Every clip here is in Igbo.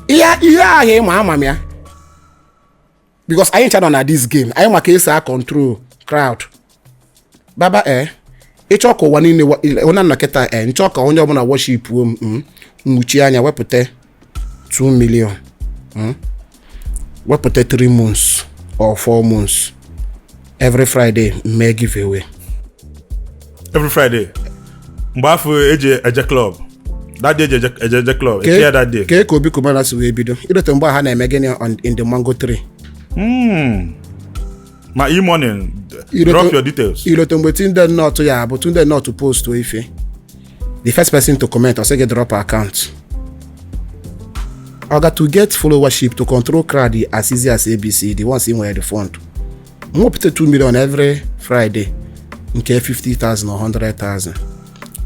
ihe ihe ahụ ịma ama m ya because anyị ncha nọ na this game anyị ma ka esi a control crowd baba eh ị chọọ ka ụwa niile wa- onye nọ kịta eh m chọọ ka onye ọbụla worship m mm, nwuchie anya wepụta 2 million hmm? wepụta 3 months or 4 months every friday mee giveaway every friday mgbe afụ eji eje club that day eje eje eje club eche ya that day kee ka Obi Cubana si wee bido i lote mgbe ha na-eme gịnị on- in the mango tree Hmm. ma e-morning Irote- drop your details i lote mgbe Tunde Ednut ya bụ Tunde Ednut post ife the first person to comment or say get drop account oga to get followership to control crowd as easy as abc the ones in where the fund mo pete 2 million every friday nke 50000 or 100000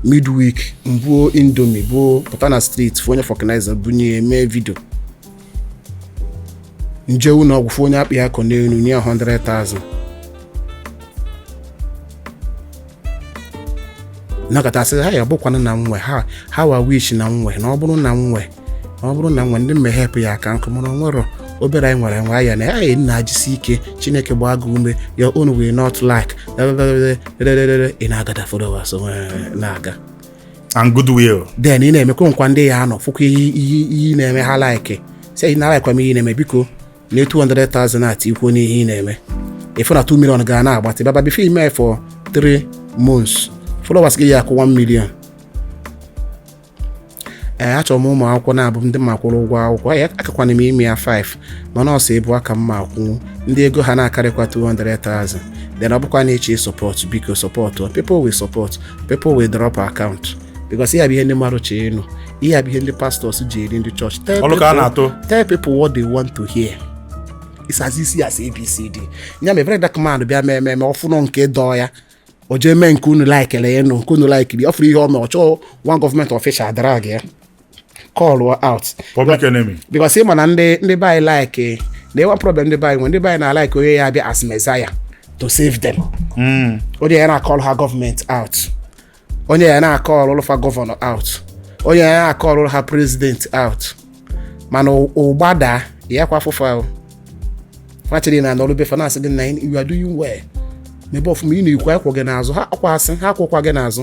midweek mbuo indomi buo pụta na street fụ onye fọknaiza bunye mee vidio m jee ụlọ ọgwụ fụ onye akpị akụ n'elu nye 100,000 nakọtasị ha ya bụkwa na nwe how I wish na nwe na ọ bụrụ na nwe na ọ bụrụ na nwe ndị m ga-ehelp ya-aka nkụ mana nwere obere anyị nwere nwa ya na ya nna jisi ike chineke gbaa gị ume ya unu wee not like ị na-agather followers na-aga and goodwill then ị na-emekwa nkwa ndị ya anọ fụkwa ihe ị ihe ị ihe ị na-eme ha like sị na like m ihe ị na-eme biko naa 200,000 at ikwu onye ihe ị na-eme ị fụ na 2 million gị a na-agbatị baba before i mee for 3 months followers gị ya akwụ 1 million ee achọrọ m ụmụ akwụkwọ naabọ ndị m ga-akwụrụ ụgwọ akwụkwọ ya akakwana m ime ya 5 mana ọsọ ebu aka m ma akwụnwu ndị ego ha na-akarịkwa 200,000 then ọ bụkwa na eche support biko support people will support people will drop account because ihe bụ ihe ndị mmadụ chọ ịnụ ihe bụ ihe ndị pastors ji eri ndị church tell people what they want to hear it's as easy as abcd nya mee VeryDarkMan bịa mee ememe ọfụnụ nke dọọ ya o jee mee nke unu likelu ya nụ nke unu likeri ọ fụrụ ihe o mee ọ chọọ one government official drag ya call out public enemy because ị ma na ndị ndị be anyị like na ị ma problem ndị be anyị nwe ndị be anyị na-alike onye ya abịa as messiah to save them hmm. onye ya na-acallụ ha government out onye ya na-acallụlụ fa governor out onye ya na-acallụlụ ha president out mana ọ gbadaa ya kwa afụfụ ahụ fachiri na-anọrụ be fa na-asị gị na you are doing well mebe ọfụma ị na-ekwu a kwụ gị n'azụ ha akwasị ha akwụkwa gị n'azụ